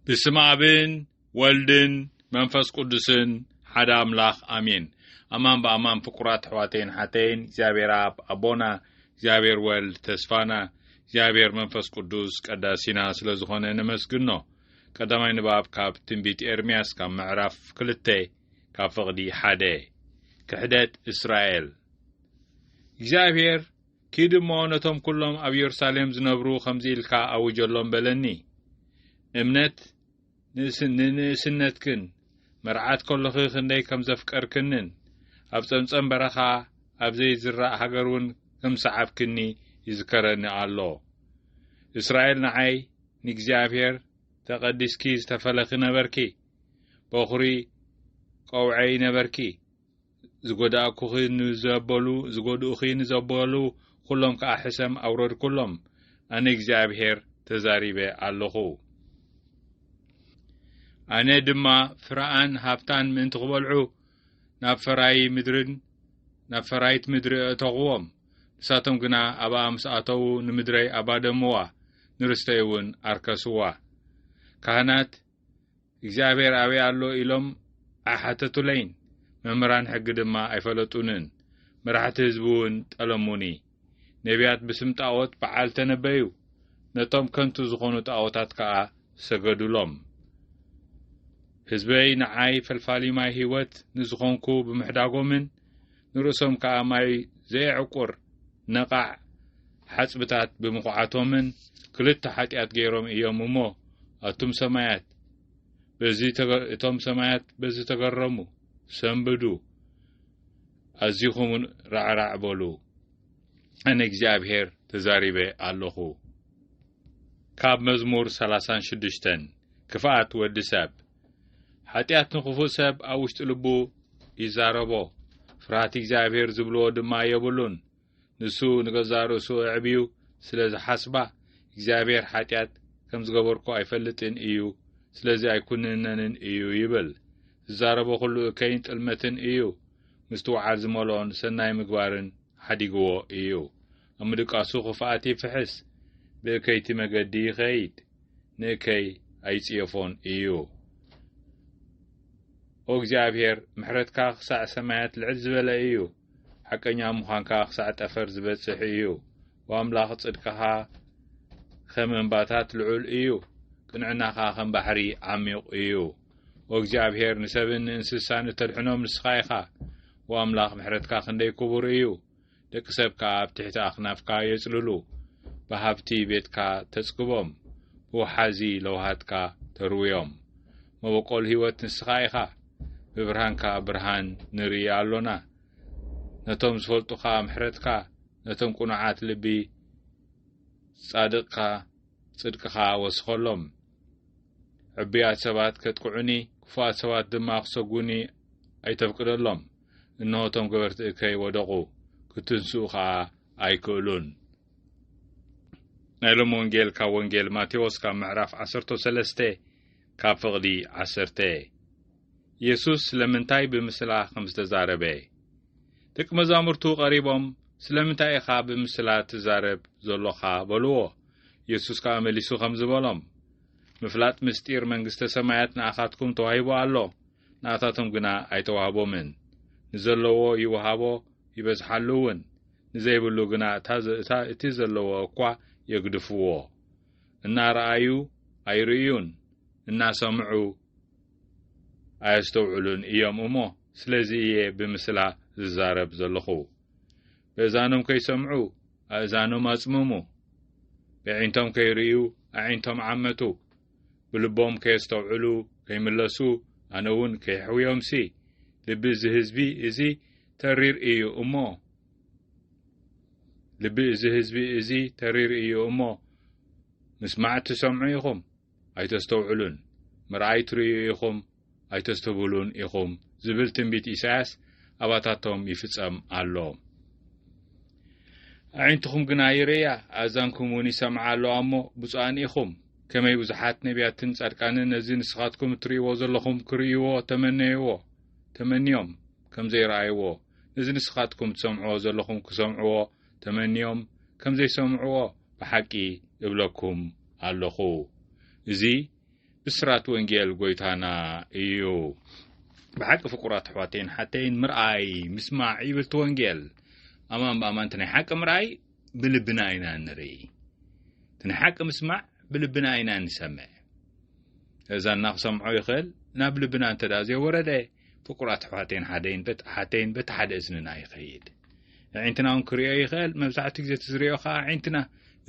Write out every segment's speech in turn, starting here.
ብስም ኣብን ወልድን መንፈስ ቅዱስን ሓደ ኣምላኽ ኣሜን። ኣማን ብኣማን ፍቁራት ኣሕዋተይን ሓተይን እግዚኣብሔር ኣብ ኣቦና እግዚኣብሔር ወልድ ተስፋና እግዚኣብሔር መንፈስ ቅዱስ ቀዳሲና ስለ ዝኾነ ነመስግኖ። ቀዳማይ ንባብ ካብ ትንቢት ኤርምያስ ካብ ምዕራፍ ክልተ ካብ ፍቕዲ ሓደ ክሕደት እስራኤል እግዚኣብሔር ኪድ እሞ ነቶም ኵሎም ኣብ የሩሳሌም ዝነብሩ ኸምዚ ኢልካ ኣውጀሎም በለኒ፣ እምነት ንንእስነትክን መርዓት ከሎኺ ኽንደይ ከም ዘፍቀርክንን ኣብ ጸምጸም በረኻ ኣብ ዘይዝራእ ሃገር እውን ከም ሰዓብክኒ ይዝከረኒ ኣሎ። እስራኤል ንዓይ ንእግዚኣብሄር ተቐዲስኪ ዝተፈለኺ ነበርኪ፣ በዅሪ ቆውዐይ ነበርኪ፣ ዝጐዳእኩኺ ንዘበሉ ዝጐድኡኺ ንዘበሉ ዅሎም ከኣ ሕሰም ኣውረድኩሎም፣ ኣነ እግዚኣብሄር ተዛሪበ ኣሎኹ። ኣነ ድማ ፍረኣን ሃብታን ምእንቲ ክበልዑ ናብ ፈራዪ ምድርን ናብ ፈራይት ምድሪ ኣእተኹዎም፣ ንሳቶም ግና ኣብኣ ምስ ኣተዉ ንምድረይ ኣባደምዋ፣ ንርስተይ እውን ኣርከስዋ። ካህናት እግዚኣብሔር ኣበይ ኣሎ ኢሎም ኣይሓተቱለይን፣ መምህራን ሕጊ ድማ ኣይፈለጡንን፣ መራሕቲ ህዝቢውን ጠለሙኒ። ነቢያት ብስም ጣዖት በዓል ተነበዩ፣ ነቶም ከንቱ ዝኾኑ ጣዖታት ከኣ ሰገዱሎም። ህዝበይ ንዓይ ፈልፋሊ ማይ ሕይወት ንዝኾንኩ ብምሕዳጎምን፣ ንርእሶም ከኣ ማይ ዘየዕቁር ነቓዕ ሓጽብታት ብምኹዓቶምን ክልተ ሓጢኣት ገይሮም እዮም እሞ፣ ኣቱም ሰማያት፣ በዚ እቶም ሰማያት በዚ ተገረሙ፣ ሰንብዱ፣ ኣዚኹምን ራዕራዕ በሉ፣ ኣነ እግዚኣብሔር ተዛሪበ ኣሎኹ። ካብ መዝሙር ሰላሳን ሽዱሽተን ክፍኣት ወዲ ሰብ ሓጢኣት ንኽፉእ ሰብ ኣብ ውሽጢ ልቡ ይዛረቦ፣ ፍርሃት እግዚኣብሄር ዝብልዎ ድማ የብሉን። ንሱ ንገዛእ ርእሱ ኣዕብዩ ስለ ዝሓስባ፣ እግዚኣብሄር ሓጢኣት ከም ዝገበርኩ ኣይፈልጥን እዩ፣ ስለዚ ኣይኩንነንን እዩ ይብል። ዝዛረቦ ዅሉ እከይን ጥልመትን እዩ፣ ምስትውዓል ዝመልኦን ሰናይ ምግባርን ሓዲግዎ እዩ። ኣብ ምድቃሱ ኽፍኣት ይፍሕስ፣ ብእከይቲ መገዲ ይኸይድ። ንእከይ ኣይጽየፎን እዩ። ኦ እግዚኣብሔር ምሕረትካ ክሳዕ ሰማያት ልዕል ዝበለ እዩ፣ ሓቀኛ ምዃንካ ክሳዕ ጠፈር ዝበጽሕ እዩ። ወኣምላኽ ጽድቅኻ ከም እምባታት ልዑል እዩ፣ ቅንዕናኻ ከም ባሕሪ ዓሚቕ እዩ። ኦ እግዚኣብሔር ንሰብን ንእንስሳን እተድሕኖም ንስኻ ኢኻ፣ ወኣምላኽ ምሕረትካ ክንደይ ክቡር እዩ። ደቂ ሰብ ከኣ ኣብ ትሕቲ ኣኽናፍካ የጽልሉ፣ ብሃብቲ ቤትካ ተጽግቦም፣ ብወሓዚ ለውሃትካ ተርውዮም። መበቆል ህይወት ንስኻ ኢኻ፣ ብብርሃንካ ብርሃን ንርኢ ኣሎና። ነቶም ዝፈልጡኻ ምሕረትካ፣ ነቶም ቅኑዓት ልቢ ጻድቕካ ጽድቅኻ ወስኸሎም። ዕቡያት ሰባት ከጥቅዑኒ፣ ክፉኣት ሰባት ድማ ክሰጉኒ ኣይተፍቅደሎም። እንሆ እቶም ገበርቲ እከይ ወደቑ፣ ክትንስኡ ኸኣ ኣይክእሉን። ናይ ሎም ወንጌል ካብ ወንጌል ማቴዎስ ካብ ምዕራፍ ዓሰርቶ ሰለስተ ካብ ፍቕዲ ዓሰርተ የሱስ ስለምንታይ ብምስላ ከም ዝተዛረበ ደቂ መዛሙርቱ ቐሪቦም ስለምንታይ ኢኻ ብምስላ ትዛረብ ዘሎኻ በልዎ። የሱስ ከኣ መሊሱ ኸም ዝበሎም ምፍላጥ ምስጢር መንግስተ ሰማያት ንኣኻትኩም ተዋሂቡ ኣሎ፣ ንኣታቶም ግና ኣይተዋህቦምን። ንዘለዎ ይውሃቦ ይበዝሓሉ እውን፣ ንዘይብሉ ግና እታ እቲ ዘለዎ እኳ የግድፍዎ። እናረኣዩ ኣይርእዩን፣ እናሰምዑ ኣየስተውዕሉን እዮም እሞ፣ ስለዚ እየ ብምስላ ዝዛረብ ዘለኹ። በእዛኖም ከይሰምዑ ኣእዛኖም ኣጽምሙ፣ በዒንቶም ከይርእዩ ኣዒንቶም ዓመቱ፣ ብልቦም ከየስተውዕሉ ከይምለሱ ኣነ ውን ከየሕውዮምሲ ልቢ እዚ ህዝቢ እዚ ተሪር እዩ እሞ ልቢ እዚ ህዝቢ እዚ ተሪር እዩ እሞ ምስማዕ ትሰምዑ ኢኹም ኣይተስተውዕሉን ምርኣይ ትርእዩ ኢኹም ኣይተስተብህሉን ኢኹም ዝብል ትንቢት ኢሳያስ ኣባታቶም ይፍጸም ኣሎ። ኣዒንትኹም ግና ይርእያ፣ ኣእዛንኩም እውን ይሰምዓ ኣለዋ እሞ ብፁዓን ኢኹም። ከመይ ብዙሓት ነቢያትን ጻድቃንን ነዚ ንስኻትኩም እትርእይዎ ዘለኹም ክርእይዎ ተመነይዎ ተመንዮም ከም ዘይረኣይዎ፣ ነዚ ንስኻትኩም ትሰምዕዎ ዘለኹም ክሰምዕዎ ተመንዮም ከም ዘይሰምዕዎ ብሓቂ እብለኩም ኣለኹ። እዚ ብስራት ወንጌል ጎይታና እዩ። ብሓቂ ፍቁራት ኣሕዋተይን ሓተይን ምርኣይ ምስማዕ ይብልቲ ወንጌል ኣማን ብኣማንቲ ናይ ሓቂ ምርኣይ ብልብና ኢና ንርኢ እቲ ናይ ሓቂ ምስማዕ ብልብና ኢና ንሰምዕ እዛና ክሰምዖ ይኽእል ናብ ልብና እንተ ዘይወረደ ፍቁራት ኣሕዋተይን ሓደይን ሓተይን በቲ ሓደ እዝንና ይኸይድ ዕዒንትና እውን ክርዮ ይኽእል መብዛሕትኡ ግዜ እቲ ዝርዮ ከዓ ዕዒንትና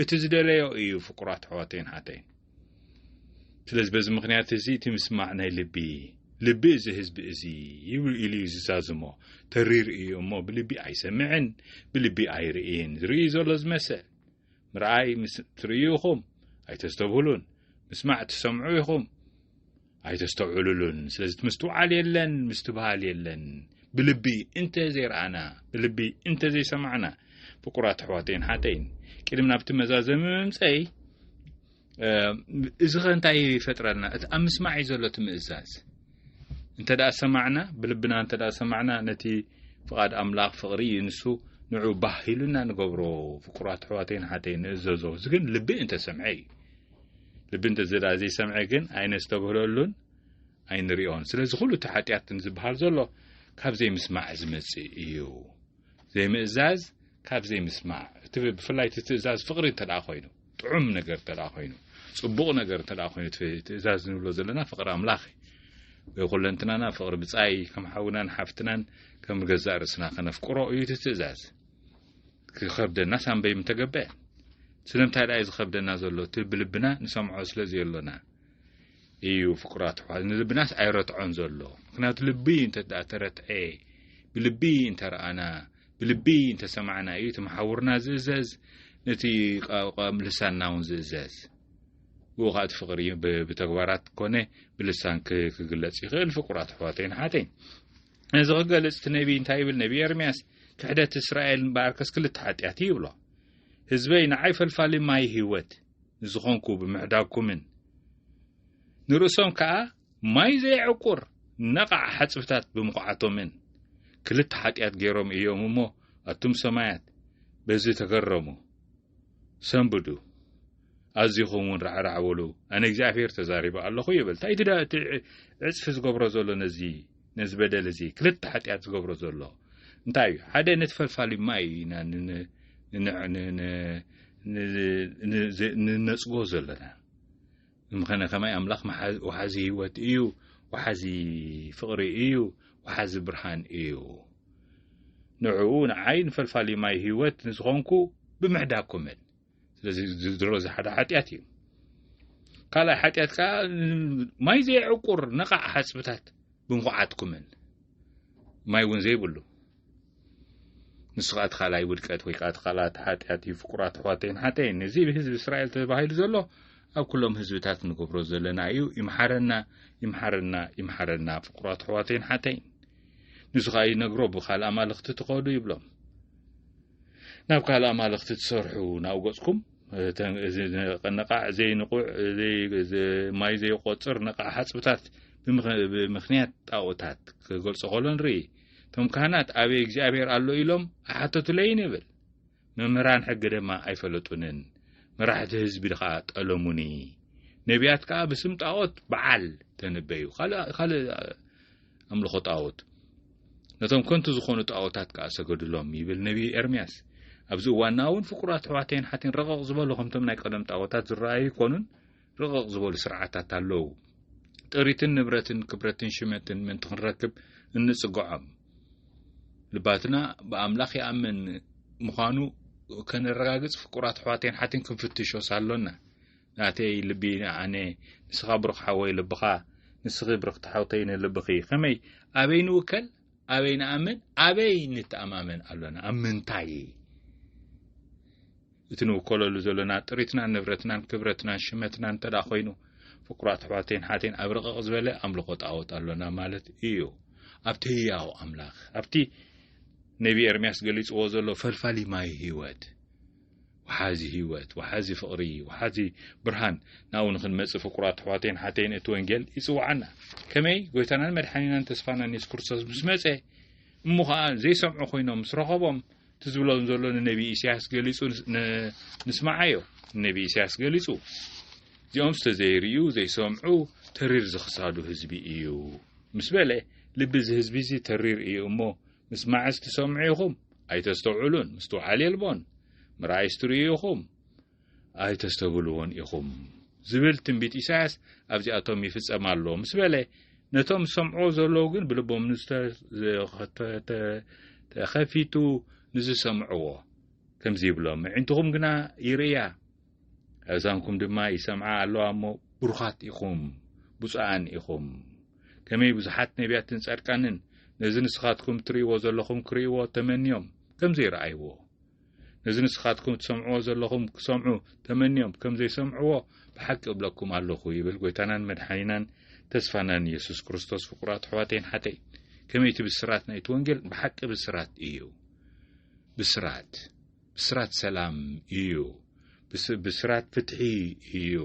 እቲ ዝደለዮ እዩ ፍቁራት ኣሕዋተይን ሓተይን ስለዚ በዚ ምክንያት እዚ እቲ ምስማዕ ናይ ልቢ ልቢ እዚ ህዝቢ እዚ ይብሉ ኢሉ እዩ ዝዛዝሞ ተሪር እዩ እሞ ብልቢ ኣይሰምዕን ብልቢ ኣይርእይን ዝርእዩ ዘሎ ዝመስል ምርኣይ ምስ ትርእዩ ኢኹም ኣይተስተብህሉን ምስማዕ ትሰምዑ ኢኹም ኣይተስተውዕሉሉን ስለዚ ምስትውዓል የለን ምስትብሃል የለን ብልቢ እንተ ዘይረኣና ብልቢ እንተ ዘይሰማዕና ፍቁራት ኣሕዋተይን ሓተይን ቅድሚ ናብቲ መዛዘሚ ምምፀይ እዚ ኸ እንታይ ይፈጥረልና እቲ ኣብ ምስማዕ እዩ ዘሎ እቲ ምእዛዝ እንተ ደኣ ሰማዕና ብልብና እንተ ደኣ ሰማዕና ነቲ ፍቓድ ኣምላኽ ፍቕሪ እዩ ንሱ ንዑ ባህ ኢሉና ንገብሮ ፍቁራት ኣሕዋተይን ሓተይን ንእዘዞ እዚ ግን ልቢ እንተሰምዐ እዩ ልቢ እንተ ዘይሰምዐ ግን ኣይነስተብህለሉን ኣይንሪኦን ስለዚ ኩሉ እቲ ሓጢኣት ዝበሃል ዘሎ ካብ ዘይምስማዕ ዝመፅእ እዩ ዘይምእዛዝ ካብ ዘይምስማዕ እቲ ብፍላይ እቲ ትእዛዝ ፍቕሪ እንተ ኮይኑ ጥዑም ነገር እንተ ኮይኑ ፅቡቕ ነገር እንተ ኮይኑ ትእዛዝ ንብሎ ዘለና ፍቕሪ ኣምላኽ እዩ ኩለንትናና ፍቕሪ ብፃይ ከም ሓውናን ሓፍትናን ከም ገዛእ ርእስና ከነፍቅሮ እዩ እቲ ትእዛዝ ክኸብደናስ ኣንበይ ምተገበ ስለምንታይ ደኣ እዩ ዝኸብደና ዘሎ እቲ ብልብና ንሰምዖ ስለ ዘየሎና እዩ ፍቁራት ኣሕዋት ንልብናስ ኣይረትዖን ዘሎ ምክንያቱ ልቢ እንተ ተረትዐ ብልቢ እንተረኣና ብልቢ እንተሰማዕና እዩ እቲ መሓውርና ዝእዘዝ ነቲ ልሳንና እውን ዝእዘዝ ብኡ ከዓ እቲ ፍቅሪ ብተግባራት ኮነ ብልሳን ክግለጽ ይኽእል ፍቁራት ኣሕዋተይን ሓተይን ነዚ ክገልጽ እቲ ነቢይ እንታይ ይብል? ነቢይ ኤርምያስ ክሕደት እስራኤል እምበኣርከስ ክልተ ሓጢኣት እዩ ይብሎ። ህዝበይ ንዓይ ፈልፋሊ ማይ ህይወት ንዝኾንኩ ብምሕዳግኩምን ንርእሶም ከኣ ማይ ዘየዕቁር ነቓዕ ሓጽብታት ብምኹዓቶምን ክልተ ሓጢኣት ገይሮም እዮም እሞ ኣቱም ሰማያት በዚ ተገረሙ። ሰንብዱ ኣዚኹም ውን ራዕራዕ በሉ ኣነ እግዚኣብሄር ተዛሪበ ኣለኹ ይብል እንታይ ግዳ እቲ ዕፅፊ ዝገብሮ ዘሎ ነዚ ነዚ በደል እዚ ክልተ ሓጢኣት ዝገብሮ ዘሎ እንታይ እዩ ሓደ ነቲ ፈልፋሊ ማይ ኢና ንነፅጎ ዘለና ምኸነ ከማይ ኣምላኽ ወሓዚ ህይወት እዩ ወሓዚ ፍቕሪ እዩ ወሓዚ ብርሃን እዩ ንዕኡ ንዓይ ንፈልፋሊ ማይ ህይወት ንዝኾንኩ ብምሕዳኩምን ስለዚ ዝድሮ ዝሓደ ሓጢኣት እዩ ካልኣይ ሓጢኣት ከዓ ማይ ዘይዕቁር ነቓዕ ሓፅብታት ብምኹዓትኩምን ማይ እውን ዘይብሉ ንሱ ከኣ እቲ ካልኣይ ውድቀት ወይ ከኣ እቲ ካልኣት ሓጢኣት እዩ ፍቁራት ኣሕዋተይን ሓተይን እዚ ብህዝቢ እስራኤል ተባሂሉ ዘሎ ኣብ ኩሎም ህዝብታት ንገብሮ ዘለና እዩ ይምሓረና ይምሓረና ይምሓረና ፍቁራት ኣሕዋተይን ሓተይን ንሱ ከኣ ይነግሮ ብካልእ ኣማልኽቲ ትኸዱ ይብሎም ናብ ካልእ ኣማልኽቲ ትሰርሑ ናብኡ ገጽኩም ነቓዕ ዘይንቑዕ ማይ ዘይቆፅር ነቓዕ ሓፅብታት ብምክንያት ጣኦታት ክገልፆ ከሎ ንርኢ እቶም ካህናት ኣበይ እግዚኣብሔር ኣሎ ኢሎም ኣሓተቱለይን ይብል መምህራን ሕጊ ድማ ኣይፈለጡንን መራሕቲ ህዝቢ ድኻ ጠለሙኒ ነቢያት ከዓ ብስም ጣዖት በዓል ተነበዩ ካልእ ኣምልኾ ጣዖት ነቶም ከንቱ ዝኾኑ ጣዖታት ከዓ ሰገድሎም ይብል ነቢ ኤርምያስ ኣብዚ እዋንና እውን ፍቁራት ኣሕዋተይን ሓትን ረቐቕ ዝበሉ ከምቶም ናይ ቀደም ጣዖታት ዝረኣዩ ይኮኑን ርቕቕ ዝበሉ ስርዓታት ኣለዉ። ጥሪትን ንብረትን ክብረትን ሽመትን ምእንቲ ክንረክብ እንጽግዖም። ልባትና ብኣምላኽ ይኣምን ምዃኑ ከነረጋግጽ ፍቁራት ኣሕዋተይን ሓትን ክንፍትሾስ ኣሎና። ናተይ ልቢ ኣነ ንስኻ ብሩኽ ሓወይ ልብኻ ንስኺ ብርኽቲ ሓውተይ ንልብኺ ከመይ ኣበይ ንውከል? ኣበይ ንኣምን ኣበይ ንተኣማመን ኣሎና ኣብ ምንታይ እቲ ንውከለሉ ዘሎና ጥሪትናን ንብረትናን ክብረትናን ሽመትናን እንተ ኮይኑ ፍቁራት ኣሕዋተይን ሓተይን ኣብ ርቕቕ ዝበለ ኣምልኾ ጣዖት ኣሎና ማለት እዩ ኣብቲ ህያው ኣምላኽ ኣብቲ ነቢ ኤርምያስ ገሊጽዎ ዘሎ ፈልፋሊ ማይ ህይወት ወሓዚ ህይወት ወሓዚ ፍቕሪ ወሓዚ ብርሃን ናብኡ ንኽንመጽእ ፍቁራት ኣሕዋተይን ሓተይን እቲ ወንጌል ይጽውዓና ከመይ ጎይታናን መድሓኒናን ተስፋናን የሱስ ክርስቶስ ምስ መጸ እሞ ኸኣ ዘይሰምዑ ኮይኖም ምስ ረኸቦም እቲ ዝብሎ ዘሎ ንነቢ ኢሳያስ ገሊጹ ንስማዓዮ ንነቢ ኢሳያስ ገሊጹ እዚኦም ስተ ዘይርእዩ ዘይሰምዑ ተሪር ዝኽሳዱ ህዝቢ እዩ ምስ በለ ልቢ እዚ ህዝቢ እዚ ተሪር እዩ እሞ ምስማዕስ ትሰምዑ ኢኹም፣ ኣይተስተውዕሉን፣ ምስትውዓል የልቦን፣ ምርኣይስ ትርእዩ ኢኹም፣ ኣይተስተብህልዎን ኢኹም ዝብል ትንቢት ኢሳያስ ኣብዚኣቶም ይፍጸም ኣሎ ምስ በለ፣ ነቶም ዝሰምዕዎ ዘለዉ ግን ብልቦም ንዝተኸፊቱ ንዝሰምዕዎ ከምዚ ይብሎም፣ ምዒንትኹም ግና ይርእያ፣ ኣእዛንኩም ድማ ይሰምዓ ኣለዋ እሞ ብሩኻት ኢኹም ብፁዓን ኢኹም ከመይ ብዙሓት ነቢያትን ጻድቃንን ነዚ ንስኻትኩም ትርእይዎ ዘለኹም ክርእይዎ ተመንዮም ከም ዘይረኣይዎ ነዚ ንስኻትኩም ትሰምዕዎ ዘለኹም ክሰምዑ ተመንዮም ከም ዘይሰምዕዎ ብሓቂ እብለኩም ኣለኹ ይብል ጐይታናን መድሓኒናን ተስፋናን የሱስ ክርስቶስ ፍቁራት ኣሕዋተይን ሓተይ ከመይቲ ብስራት ናይቲ ወንጌል ብሓቂ ብስራት እዩ ብስራት ብስራት ሰላም እዩ። ብስራት ፍትሒ እዩ።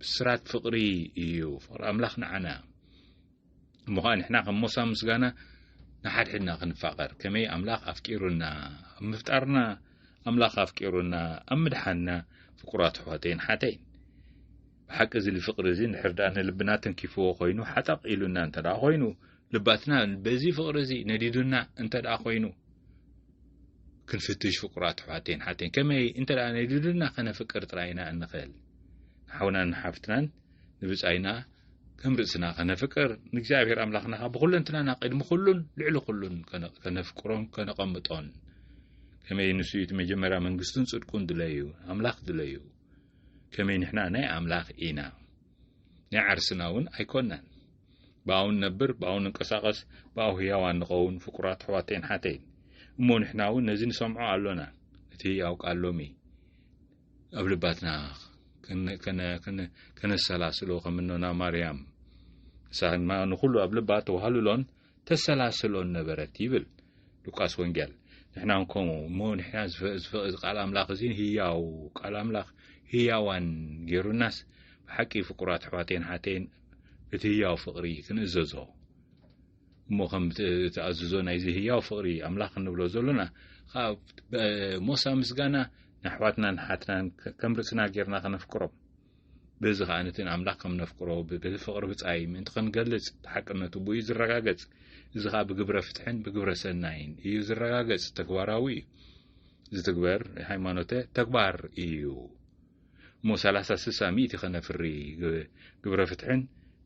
ብስራት ፍቕሪ እዩ። ፍቕሪ ኣምላኽ ንዓና እሞ ኸኣ ንሕና ከም ሞሳ ምስጋና ንሓድሕድና ክንፋቐር ከመይ ኣምላኽ ኣፍቂሩና ኣብ ምፍጣርና ኣምላኽ ኣፍቂሩና ኣብ ምድሓና ፍቁራት ኣሕዋተይን ሓተይን ብሓቂ እዚ ፍቕሪ እዚ ንሕርዳእ ንልብና ተንኪፍዎ ኮይኑ ሓጠቕ ኢሉና እንተ ኮይኑ ልባትና በዚ ፍቕሪ እዚ ነዲዱና እንተ ደኣ ኮይኑ ክንፍትሽ ፍቁራት ኣሕዋተይን ሓተይን ከመይ እንተ ደኣ ነዲዱና ከነፍቅር ጥራይ ኢና እንኽእል ንሓውናን ንሓፍትናን ንብጻይና ከም ርእስና ከነፍቅር ንእግዚኣብሔር ኣምላኽና ካብ ብኩለንትናና ቅድሚ ኩሉን ልዕሊ ኩሉን ከነፍቅሮን ከነቐምጦን ከመይ ንሱ እቲ መጀመርያ መንግስቱን ጽድቁን ድለዩ ኣምላኽ ድለዩ ከመይ ንሕና ናይ ኣምላኽ ኢና ናይ ዓርስና እውን ኣይኮናን ብኣኡ ንነብር ብኣኡ ንንቀሳቐስ ብኣኡ ህያዋን ንኸውን ፍቁራት ኣሕዋተይን ሓተይን እሞ ንሕና እውን ነዚ ንሰምዖ ኣሎና እቲ ህያው ቃል ሎሚ ኣብ ልባትና ከነሰላስሎ ከምኖና ማርያም ንሳ ድማ ንኹሉ ኣብ ልባ ተዋህልሎን ተሰላስሎን ነበረት ይብል ሉቃስ ወንጌል ንሕና ከምኡ እሞ ንሕና ዝፈእ ቃል ኣምላኽ እዚ ህያው ቃል ኣምላኽ ህያዋን ገይሩናስ ብሓቂ ፍቁራት ኣሕዋተይን ሓተይን እቲ ህያው ፍቕሪ ክንእዘዞ እሞ ከም ተኣዝዞ ናይዚ ህያው ፍቕሪ ኣምላኽ እንብሎ ዘሎና ኸዓ ሞሳ ምስጋና ንኣሕዋትናን ንሓትናን ከም ርእስና ጌርና ከነፍቅሮም በዚ ከዓ ነቲ ንኣምላኽ ከም ነፍቅሮ በቲ ፍቕሪ ብፃይ ምእንቲ ክንገልጽ ተሓቅነቱ ብኡ ዝረጋገጽ እዚ ከዓ ብግብረ ፍትሕን ብግብረ ሰናይን እዩ ዝረጋገጽ ተግባራዊ እዩ ዝትግበር ሃይማኖተ ተግባር እዩ እሞ ሰላሳ ስሳ ሚእቲ ከነፍሪ ግብረ ፍትሕን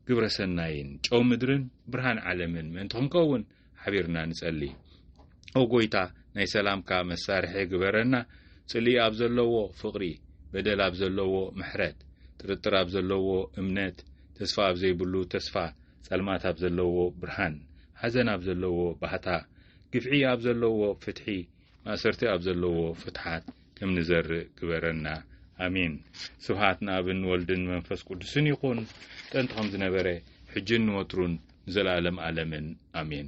ግብረ ሰናይን ጨው ምድርን ብርሃን ዓለምን ምእንቲ ክንከውን ሓቢርና ንጸሊ ኦ ጎይታ ናይ ሰላምካ መሳርሒ ግበረና ጽልኢ ኣብ ዘለዎ ፍቕሪ በደል ኣብ ዘለዎ ምሕረት ጥርጥር ኣብ ዘለዎ እምነት ተስፋ ኣብ ዘይብሉ ተስፋ ጸልማት ኣብ ዘለዎ ብርሃን ሓዘን ኣብ ዘለዎ ባህታ ግፍዒ ኣብ ዘለዎ ፍትሒ ማእሰርቲ ኣብ ዘለዎ ፍትሓት ከም ንዘርእ ግበረና ኣሜን ስብሃት ንኣብን ወልድን መንፈስ ቅዱስን ይኹን ጥንቲ ከም ዝነበረ ሕጅን ንወትሩን ንዘለኣለም ኣለምን ኣሜን